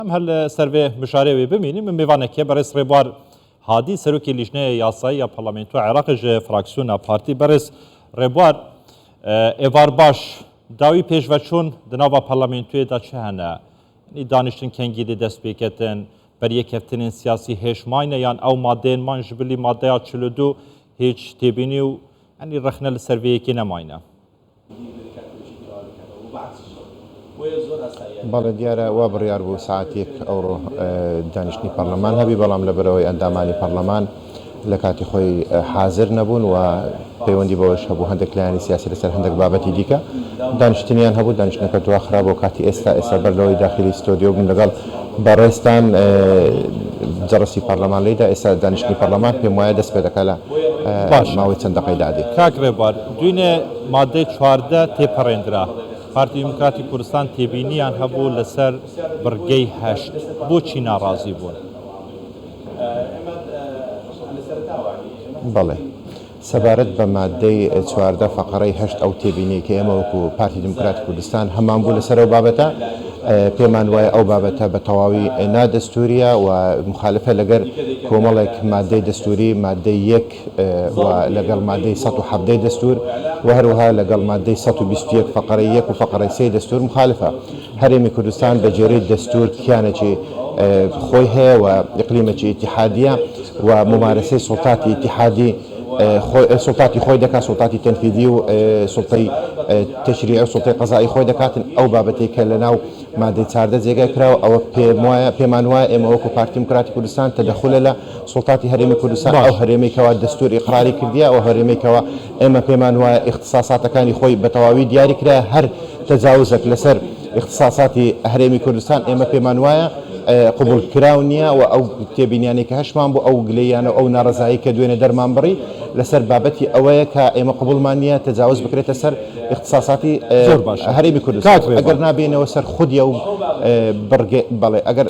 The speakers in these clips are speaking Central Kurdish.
ئەم هەر لە سەرێ مشارێ وێ بمینی من میێوانەکێ بەڕێز ڕێبوار هادی سەرۆکی لیژنەیە یاسایی یا پەرلەمنت و عێراقش فراکسیۆنا پارتی بەڕێز ڕێبوار ئێوار باش داوی پێشڤەچوون دناوا پەرلەمنتوێدا چ هەنە دانیشتن کەنگی دێ دەست پێکەتن بەریەکەفتنین سیاسی هێشماینە یان ئەو مادێن مان ji bilî مادەیا چلو دوو هیچ تێبینی و ئەنی ڕخنە لە سەرێکی نەماینە بەڵێ دیارە وا بڕیار بوو سەعاتێک ئەوڕۆ دانیشتنی پەڕلەمان هەبی بەڵام لەبەرئەوەی ئەندامانی پەڕلەمان لەکاتی خۆی حازر نەبوون و پەیوەندی بەوەش هەبوو هەندێک لایەنی سیاسی لەسەر هەندێک بابەتی دیکە دانیشتنیان هەبوو دانیشتنەکە دواخرا بۆ کاتی ئێستا ئێستا بەر لەوەی داخلی ستۆدیۆ بن لەگەڵ بەڕێزتان جەڕسی پەڕلەمان لێدا ئێستا دانیشتنی پەڕلەمان پێم وایە دەست پێ دەکات لە ماوەی چەند دەقەی دادێ. دوێنێ ماددەی چواردە تێپەڕێندرا، پارتی دیموکراتی کوردستان تێبینییان هەبوو لەسەر بڕگەی هەشت، بۆچی ناڕازی بوون؟ سەبارەت بە ماددەی چواردە فەقەرەی هەشت ئەو تێبینیەی کە ئێمە وەکو پارتی دیموکراتی کوردستان هەمان بوو لەسەر ئەو بابەتە پێمان وایە ئەو بابەتە بە تەواوی نادەستووریە و مخالفە لەگەر کۆمەڵێک ماددەی دەستووری ماددەی یەک و لەگەڵ مادەی سەد و حەڤدە ی دەستوور و هەروەها لەگەڵ مادەی سەد و بیست و یەک فەقەرەی یەک و فەقەرەی سێی دەستوور موخالفە. هەرێمی کوردستان بە گوێرەی دەستوور کیانێکی خۆی هەیە و ئیقلیمێکی ئیتیحادییە و مومارەسەی سوڵتاتی ئیتیحادی سوڵتاتی خۆی دەکات، سوڵتاتی تەنفیزی و سوڵتەی تەشریعی و سوڵتەی قەزائی خۆی دەکاتن. ئەو بابەتەی کە لەناو مادەی چاردە جێگای کراوە ئەوە پێموایە پێمانوایە ئێمە وەکوو پارتی دیموکراتی کوردستان تەدەخولە لە سوڵتاتی هەرێمی کوردستان ئەو هەرێمەی کەوا دەستوور ئیقراری کردیە، ئەو هەرێمەی کەوا ئێمە پێمان وایە ئیختساساتەکانی خۆی بە تەواوی دیاری کرایە، هەر تەجاوزەک لەسەر ئیختساساتی هەرێمی کوردستان ئێمە پێمان وایە قبوڵ کراو نیە و ئەو تێبینیانەی کە هەشمان بوو ئەو گلەییانە و ئەو نارەزایی کە دوێنێ دەرمان بڕی لەسەر بابەتی ئەوەیە کە ئێمە قبوڵمان نیە تەجاوز بکرێتە سەر ئیختساساتی زۆر باشە هەرێمی کوردستان کاک ڕێبوار. ئەگەر نا بێینەوە سەر خودی ئەو بڕگەی بەڵێ ئەگەر.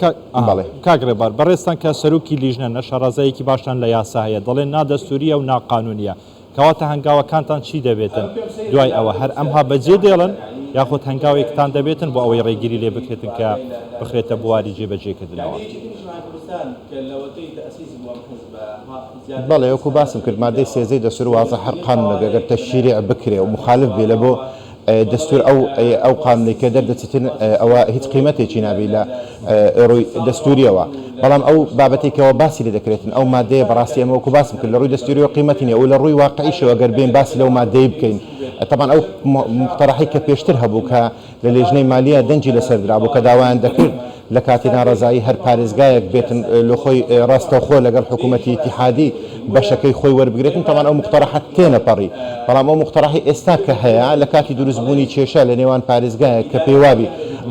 بەڵێ کاک ڕێبار بەڕێزتان کە سەرۆکی لیژنەن نە شەڕەزایەکی باشتان لە یاسا هەیە دەڵێن نا دەستوورییە و نا قانوونییە کەواتە هەنگاوەکانتان چی دەبێتن دوای ئەوە هەر ئەمها بەجێ دێڵن یاخود هەنگاوێکتان دەبێتن بۆ ئەوەی ڕێگیری لێ بکرێتن کە بخرێتە بواری جێبەجێ کردنەوە. بەڵێ وەکو باسم کرد مادەی سێزدەی دەستوور وازە هەر قانوونێک ئەگەر تەشریع بکرێ و مخالف بێ لە بۆ دەستور ئەو ئەو قانونەی کە دەردەچتن ئەوە هیچ قیمەتێکی نابی لە ڕووی دەستوریەوە بەڵام ئەو بابەتی کەەوە باسی لە دەکرێتن ئەو مادەیە بەڕاستی ئەمە وەکو باسم کرد لە ڕووی دەستوری و قیمەتی نیە و لە ڕووی واقعیشەوە گەر بێن باسی لەو مادەی بکەین تەبان ئەو مختەڕحی کە پێشتر هەبوو کە لە لێژنەی مالیە دەنجی لەسەر درابوو کە داوایان دەکرد لە کاتی نارەزایی هەر پارێزگایەک بێتن لۆ خۆی ڕاستەوخۆ لەگەڵ حکوومەتی ئیتیحادی بەشەکەی خۆی وەربگرێتن، تەمان ئەو موقتەرەحە تێنەپەڕی، بەڵام ئەو موقتەرەحەی ئێستا کە هەیە لە کاتی دروستبوونی کێشە لە نێوان پارێزگایەک کە پێیوابی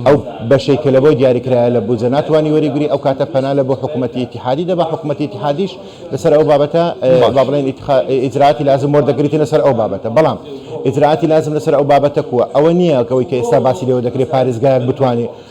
ئەو بەشەی کە لە بۆی دیاری کرایە لە بودجە ناتوانی وەریبگری ئەو کاتە پەنا لە بۆ حکوومەتی ئیتیحادی دەبا، حکوومەتی ئیتیحادیش لە سەر ئەو بابەتە با بڵێن ئیتخا ئیجرائاتی لازم وەردەگریتن لە سەر ئەو بابەتە، بەڵام ئیجرائاتی لازم لە سەر ئەو بابەتە کووە؟ ئەوە نییە کە ئەوەی کە ئێستا باسی لێوە دەکرێ پارێزگایەک بتوانێ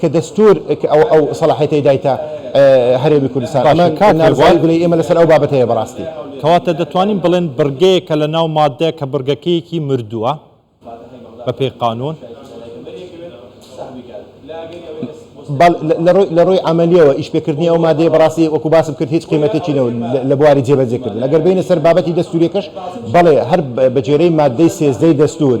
کە دەستوور ئەو سەڵاحیەتەی دایتە هەرێمی کوردستان. ئەمە نارەزایی گلەیی ئێمە لەسەر ئەو بابەتەیە بەڕاستی. کەواتە دەتوانین بڵێن بڕگەیەکە لە ناو ماددە کە بڕگەکەیەکی مردووە بە پێی قانوون. بەڵێ لە ڕووی عەمەلییەوە ئیشپێکردنی ئەو ماددەیە بەڕاستی وەکوو باسم کرد هیچ قیمەتێکی نەبوو لە بواری جێبەجێکردن. ئەگەر بێینە سەر بابەتی دەستوورییەکەش بەڵێ هەر بە گوێرەی ماددەی سێزدەی دەستوور،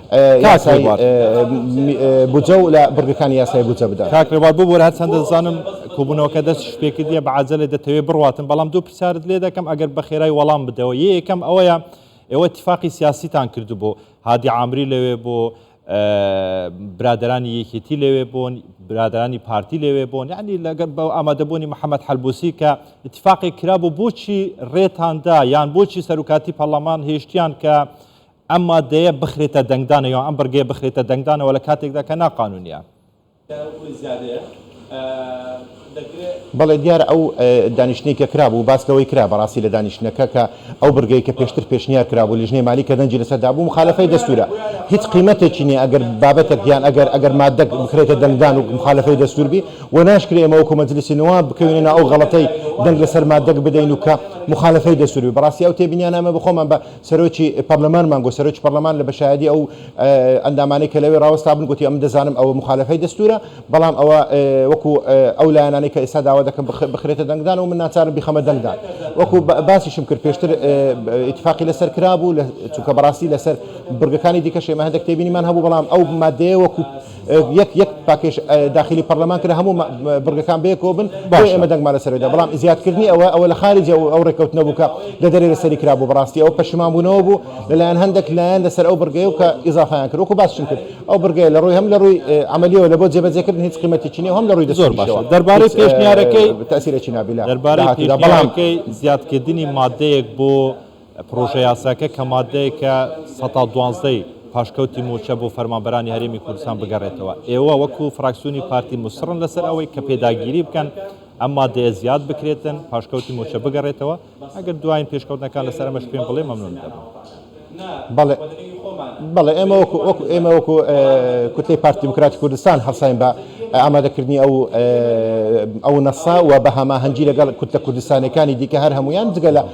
کاک ڕێبوار. بودجە و لە بڕگەکانی یاسای بودجە بدەن. کاک ڕێبوار ببوورە هەرچەندە دەزانم کۆبوونەوەکە دەستیشت پێکردیە بە عەجەلە دەتەوێ بڕواتن بەڵام دوو پرسیارت لێ دەکەم ئەگەر بە خێرای وەڵام بدەوە یە یەکەم ئەوەیە ئێوە ئیتیفاقی سیاسیتان کردبوو هادی عامری لەوێ بوو برادەرانی یەکێتی لەوێ بوون برادەرانی پارتی لەوێ بوون یعنی لەگەر بە ئامادەبوونی محەممەد حەلبوسی کە ئیتیفاقێک کرابوو بۆچی ڕێتان دا یان بۆچی سەرکاتی پەرلەمان هێشتیان کە ئەم مادەیە بخرێتە دەنگدانە یان ئەم بڕگەیە بخرێتە دەنگدانەوە لە کاتێکدا کە ناقانونیە. بەڵێ دیارە ئەو دانیشتنەی کە کرابوو باس لەوەی کرا بەڕاستی لە دانیشتنەکە کە ئەو بڕگەی کە پێشتر پێشنیار کرابوو لیژنەی مالی کە دەنگی لەسەر دابوو مخالەفەی دەستوورە هیچ قیمەتێکی نییە ئەگەر بابەتێک یان ئەگەر ئەگەر مادەک بخرێتە دەنگدان و مخالەفەی دەستوور بی و ناشکرێ ئێمە وەکو مەجلیسی نواب بکەوینە ناو ئەو غەڵەتەی دەنگ لەسەر مادەک بدەین و کە مخالەفەی دەستوور بی بەڕاستی ئەو تێبینیانە ئێمە بە خۆمان بە سەرۆکی پەرلەمان مانگۆ سەرۆکی پەرلەمان لە بەشایەدی ئەو ئەندامانەی کە لەوێ ڕاوەستابن گوتی ئەمن دەزانم ئەوە مخالفەی دەستورە بەڵام ئەوە وەکو ئەو لایەنانەی کە ئێستا داوا دەکەن بخرێتە دەنگدان و من ناچارم بیخەمە دەنگدان وەکو باسیشم کرد پێشتر اتفاقی لەسەر کرابوو لە چونکە بەڕاستی لەسەر بڕگەکانی دیکە شێمە هەندێک تێبینیمان هەبوو بەڵام ئەو مادەیە وەکو یەک یەک پاکێش داخیلی پەڕلەمان کرا هەموو بڕگەکان بەیەکەوە بن بۆیە باشە. ئێمە دەنگمان لەسەر دا بەڵام زیادکردنی ئەوە ئەوە لە خاریجە و ئەو رێکەوتنە بوو کە لە دەرێ لەسەری کرابوو بەڕاستی ئەوە پەشیمانبوونەوە بوو لەلایەن هەندێک لایەن لەسەر ئەو بڕگەیە و کە ئیزافەیان کرد وەکو باسشم کرد ئەو بڕگەیە لە رووی هەم لە رووی عەمەلیەوە لە بۆ جێبەجێکردن هیچ قیمەتێکی نیە و هەم لە رووی زۆر باشە دەستوریشەوە دەربارەی هیچ پێشنیارەکەی تەئسیرێکی نابی لە دەربارەی داهاتوودا بەڵام پێشنیارەکەی زیادکردنی مادەیەک بۆ پڕۆژەیاساکە کە ماددەیەکە سەتا دوانزدە ی پاشکەوتی مووچە بۆ فەرمانبەرانی هەرێمی کوردستان بگەڕێتەوە. ئێوە وەکو فراکسیۆنی پارتی موسڕن لەسەر ئەوەی کە پێداگیری بکەن ئەم ماددەیە زیاد بکرێتن پاشکەوتی مووچە بگەڕێتەوە؟ ئەگەر دوایین پێشکەوتنەکان لەسەر ئەمەش پێم بڵێ مەمنون دەبم. بەڵێ بەڵێ ئێمە وەکو وەکو ئێمە وەکو کوتلەی پارتی دیموکراتی کوردستان هەڵساین بە ئامادەکردنی ئەو ئەو نەسە و بە هەماهەنگی لەگەڵ کوتلە کوردستانیەکانی دیکە هەر هەموویان جگە لە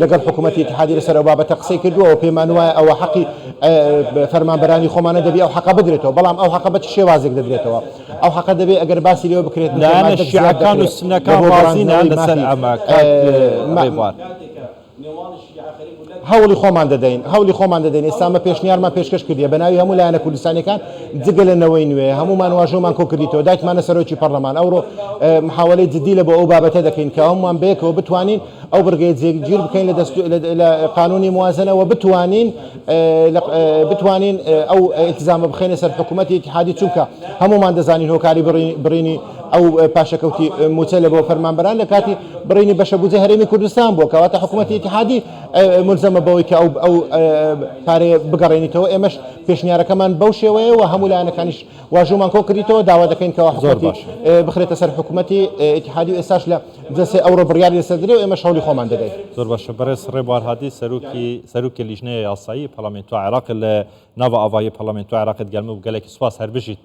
لەگەڵ حکومەتی ئیتحادی لەسەر ئەو بابەتە قسەی کردووە و پێمان وایە ئەوە حەقی فەرمانبەرانی خۆمانە دەبێ ئەو حەقە بدرێتەوە، بەڵام ئەو حەقە بە چ شێوازێک دەدرێتەوە؟ ئەو حەقە دەبێ ئەگەر باسی لێوە بکرێت نوتەی لایەنە مادەک زیاد شیعەکان و دەکرێ سوننەکان بۆ ڕازی نان گەڕاندنەوەی لەسەر مافی ئەمە کاک ئه، مە، ڕێبوار؟ هەوڵی خۆمان دەدەین، هەوڵی خۆمان دەدەین، ئێستا ئەمە پێشنیارمان پێشکەش کردیە بە ناوی هەموو لایەنە کوردستانیەکان جگە لە نەوەی نوێ، هەموومان واژۆمان کۆ کردیتەوە دایتمانە سەرۆکی پەڕلەمان، ئەوڕۆ ئه، محاوەلەی جدی لە بۆ ئەو بابەتە دەکەین کە هەموومان بەیەکەوە بتوانین، ئەو بڕگەیە جێگیر بکەین لە دەستور لە قانونی موازنە وە بتوانین بتوانین ئەو التزامە بخەینە سەر حکومەتی اتحادی چونکە هەموومان دەزانین هۆکاری بڕینی ئەو پاشەکەوتی موچە لە بۆ فەرمانبەران لە کاتی بڕینی بەشە بودجە هەرێمی کوردستان بووە کەواتە حکومەتی اتحادی ملزمە بەوەی کە ئەو ئەو پارەیە بگەڕێنیتەوە ئێمەش پێشنیارەکەمان بەو شێوەیە و هەموو لایەنەکانیش واژومان کۆ کردیتەوە داوا دەکەین کەەوە زۆر باش بخرێتە سەر حکومەتی اتحادی ئێستاش لە جا سێ ئەوڕۆ بڕیاری لەسەر دەدرێ و ئێمەش هەوڵی خۆمان دەدەین. زۆر باشە بەڕێز رێبوار هادی سەرۆکی سەرۆکی لیژنەیە یاسایی پەڕڵەمێنتوە عێڕاق لە ناڤە ئاڤایی پەڕڵەمێنتوە عێڕاقت گەرمە و گەلەکی سوپاس هەربژیت.